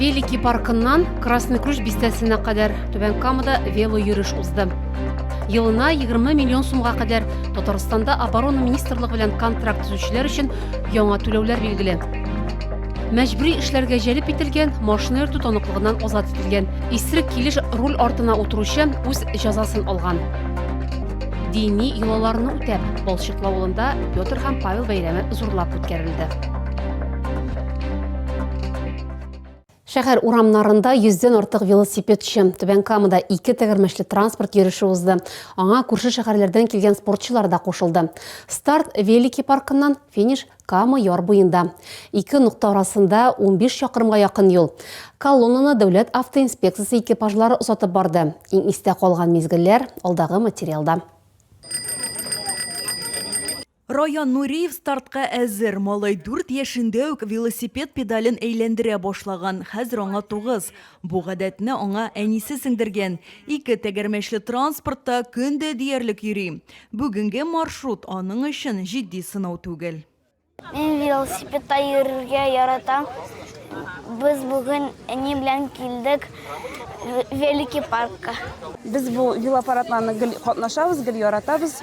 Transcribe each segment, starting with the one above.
Великий паркыннан Красный Ключ бистәсенә кадәр Түбән Камада вело йөреш узды. Елына 20 миллион сумга кадәр Татарстанда оборона министрлыгы белән контракт төзүчеләр өчен яңа түләүләр билгеле. Мәҗбүри эшләргә җәлеп ителгән, машина йөртү таныклыгыннан азат ителгән, исерек килеш руль артына утыручы үз җәзасын алган. Дини йолаларны үтәп, Балчык авылында Петр һәм Павел бәйрәме зурлап үткәрелде. Шәһәр урамнарында йөздән артык велосипедчы, Түбән Камада ике тәгәрмәчле транспорт йөреше узды. Аңа күрше шәһәрләрдән килгән спортчылар да кушылды. Старт Велики паркыннан, финиш Кама яр буенда, ике нокта арасында 15 чакрымга якын юл. Колоннаны дәүләт автоинспекциясе экипажлары озатып барды. Иң истә калган мизгелләр алдагы материалда. Раян Нуриев стартка әзер. Малай дүрт яшендә үк велосипед педален әйләндерә башлаган, хәзер аңа тугыз. Бу гадәтне аңа әнисе сеңдергән, ике тәгәрмәчле транспортта көн дә диярлек йөри. Бүгенге маршрут аның өчен җитди сынау түгел. Мин велосипедта йөрергә яратам. Без бүген әни белән килдек велики паркка. Без бу велопарадларны гел катнашабыз, гел яратабыз.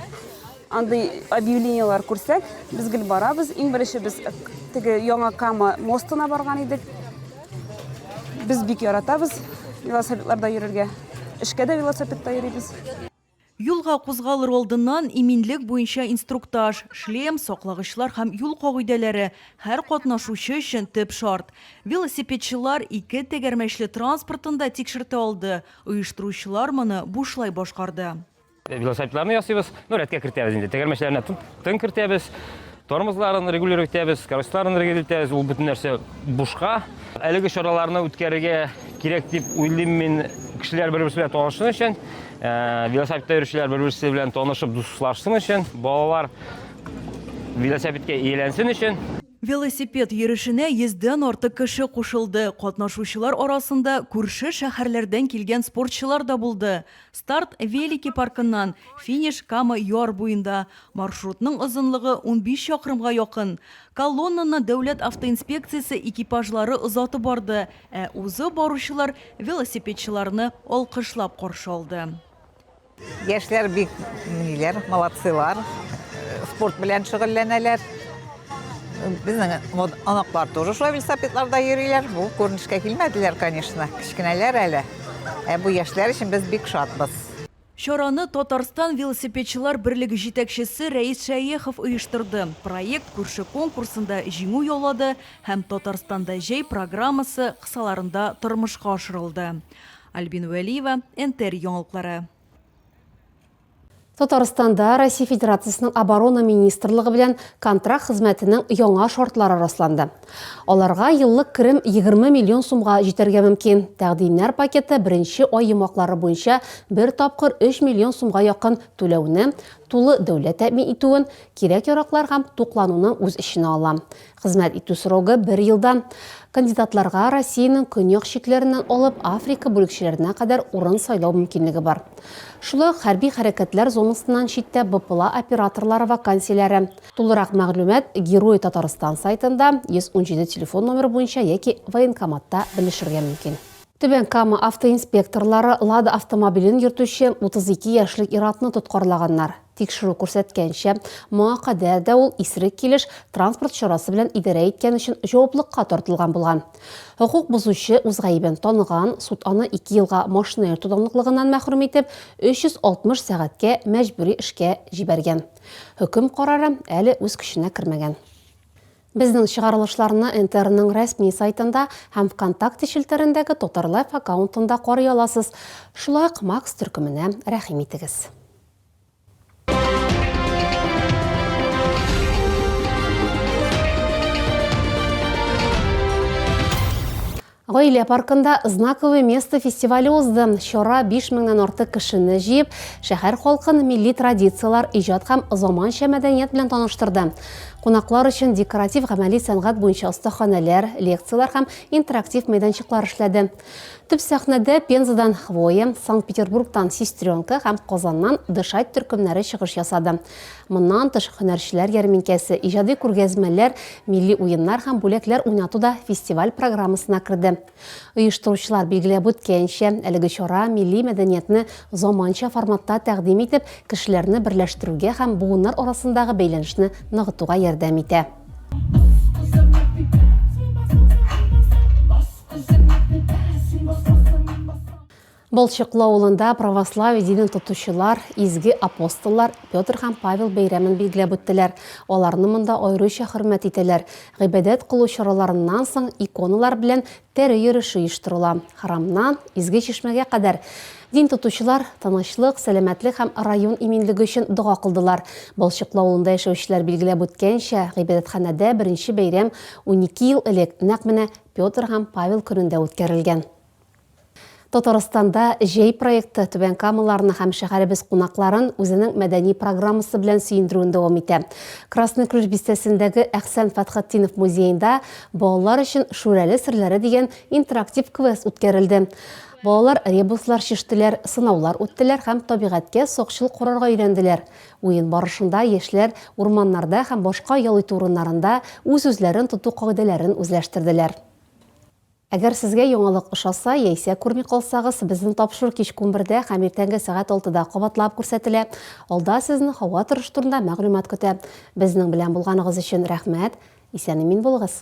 Андый объявлениелар күрсәк, без гел барабыз. Иң беренче без теге Яңа Кама мостына барган идек. Без бик яратабыз велосипедларда йөрергә. Эшкә дә велосипедта йөрибез. Юлга кузгалыр алдыннан иминлек буенча инструктаж, шлем, саклагычлар һәм юл кагыйдәләре һәр катнашучы өчен төп шарт. Велосипедчылар ике тәгәрмәчле транспортын да тикшертә алды, оештыручылар моны бушлай башкарды. Велосипедларны ясыйбыз, ну, рәткә кертәбез инде. Тәгәрмәчләренә тын кертәбез. Тормозларын регулировать итәбез, корычларын регулировать итәбез, ул бөтен нәрсә бушка. Әлеге чараларны үткәрергә кирәк дип уйлыйм мин кешеләр бер-берсе белән танышсын өчен, э, велосипедта йөрүчеләр бер-берсе белән танышып дуслашсын өчен, балалар велосипедка ияләнсен өчен. Велосипед йөрешенә йөздән артык кеше кушылды. Катнашучылар арасында күрше шәһәрләрдән килгән спортчылар да булды. Старт Велики паркыннан, финиш Кама яр буенда. Маршрутның озынлыгы унбиш чакрымга якын. Колоннаны дәүләт автоинспекциясе экипажлары озатып барды, ә узып баручылар велосипедчыларны алкышлап каршы алды. Яшьләр бик ниләр, молодцыйлар, спорт белән шөгыльләнәләр. Безнең вот анаклар тоже шулай велосипедларда йөриләр. Бу күренешкә килмәделәр, конечно. Кечкенәләр әле. Ә бу яшьләр өчен без бик шатбыз. Чараны Татарстан велосипедчылар берлеге җитәкчесе Рәис Шәехов оештырды. Проект күрше конкурсында җиңү яулады һәм Татарстанда җәй программасы кысаларында тормышка ашырылды. Альбина Вәлиева, НТР яңалыклары. Татарстанда Россия Федерациясенең Оборона министрлыгы белән контракт хезмәтенең яңа шартлары расланды. Аларга еллык керем 20 миллион сумга җитәргә мөмкин. Тәкъдимнәр пакеты беренче ай йомгаклары буенча бер тапкыр 3 миллион сумга якын түләүне, тулы дәүләт тәэмин итүен, кирәк-яраклар һәм туклануны үз эченә ала. Хезмәт итү срогы бер елдан. Кандидатларга Россиянең көньяк чикләреннән алып Африка бүлекчәләренә кадәр урын сайлау мөмкинлеге бар. Шулай ук хәрби хәрәкәтләр зонасыннан читтә БПЛА операторлары вакансияләре. Тулырак мәгълүмат Герои Татарстан сайтында 117 телефон номеры буенча яки военкоматта белешергә мөмкин. Түбән Кама автоинспекторлары Лада автомобилен йөртүче 32 яшьлек ир-атны тоткарлаганнар. Тикшерү күрсәткәнчә, моңа кадәр дә ул исерек килеш транспорт чарасы белән идарә иткән өчен җаваплыкка тартылган булган. Хокук бозучы үз гаебен таныган, суд аны ике елга машина йөртү данлыклыгыннан мәхрүм итеп, 360 сәгатькә мәҗбүри эшкә җибәргән. Хөкем карары әле үз көченә кермәгән. Безнең чыгарылышларны НТРның рәсми сайтында һәм ВКонтакте челтәрендәге Татарлайф аккаунтында карый аласыз. Шулай ук Макс төркеменә рәхим итегез. Гаилә паркында знаковый место фестивале узды. Чара 5 меңнән артык кешене җыеп, шәһәр халкын милли традицияләр, иҗат һәм заманча мәдәният белән таныштырды. Кунаклар өчен декоратив гамәли сәнгать буенча остаханәләр, лекцияләр һәм интерактив мәйданчыклар эшләде. Төп сәхнәдә Пензадан Хвоя, Санкт-Петербургтан Сестренка һәм Казаннан Дышать төркемнәре чыгыш ясады. Моннан тыш һөнәрчеләр ярминкәсе, иҗади күргәзмәләр, милли уеннар һәм бүләкләр уйнату да фестиваль программасына керде. Оештыручылар билгеләп үткәнчә, әлеге чара милли мәдәниятне заманча форматта тәкъдим итеп, кешеләрне берләштерүгә һәм буыннар арасындагы бәйләнешне ныгытуга ярдәм итә. Былчыклы авылында православие динен тотучылар, изге апостоллар Петр һәм Павел бәйрәмен билгеләп үттеләр. Аларны монда аеруча хөрмәт итәләр. Гыйбадәт кылу чараларыннан соң иконалар белән Пәри йөреше оештырыла. Храмнан Изге Чишмәгә кадәр дин тотучылар тынычлык, сәламәтлек һәм район иминлеге өчен дога кылдылар. Балчыклы авылында яшәүчеләр билгеләп үткәнчә, гыйбадәтханәдә беренче бәйрәм унике ел элек, нәкъ менә Петр һәм Павел көнендә үткәрелгән. Татарстанда Җәй проекты Түбән Камаларны һәм шәһәребез кунакларын үзенең мәдәни программасы белән сөендерүен дәвам итә. Красный Ключ бистәсендәге Әхсән Фәтхетдинов музеенда балалар өчен Шүрәле серләре дигән интерактив квест үткәрелде. Балалар ребуслар чиштеләр, сынаулар үттеләр һәм табигатькә сакчыл карарга өйрәнделәр. Уен барышында яшьләр урманнарда һәм башка ял итү урыннарында үз-үзләрен тоту кагыйдәләрен үзләштерделәр. Әгәр сезгә яңалык ошаса, яисә күрми калсагыз, безнең тапшыру кичке унбердә һәм иртәнге сәгать алтыда кабатлап күрсәтелә. Алда сезне һава торышы турында мәгълүмат көтә. Безнең белән булганыгыз өчен рәхмәт! Исән-имин булыгыз!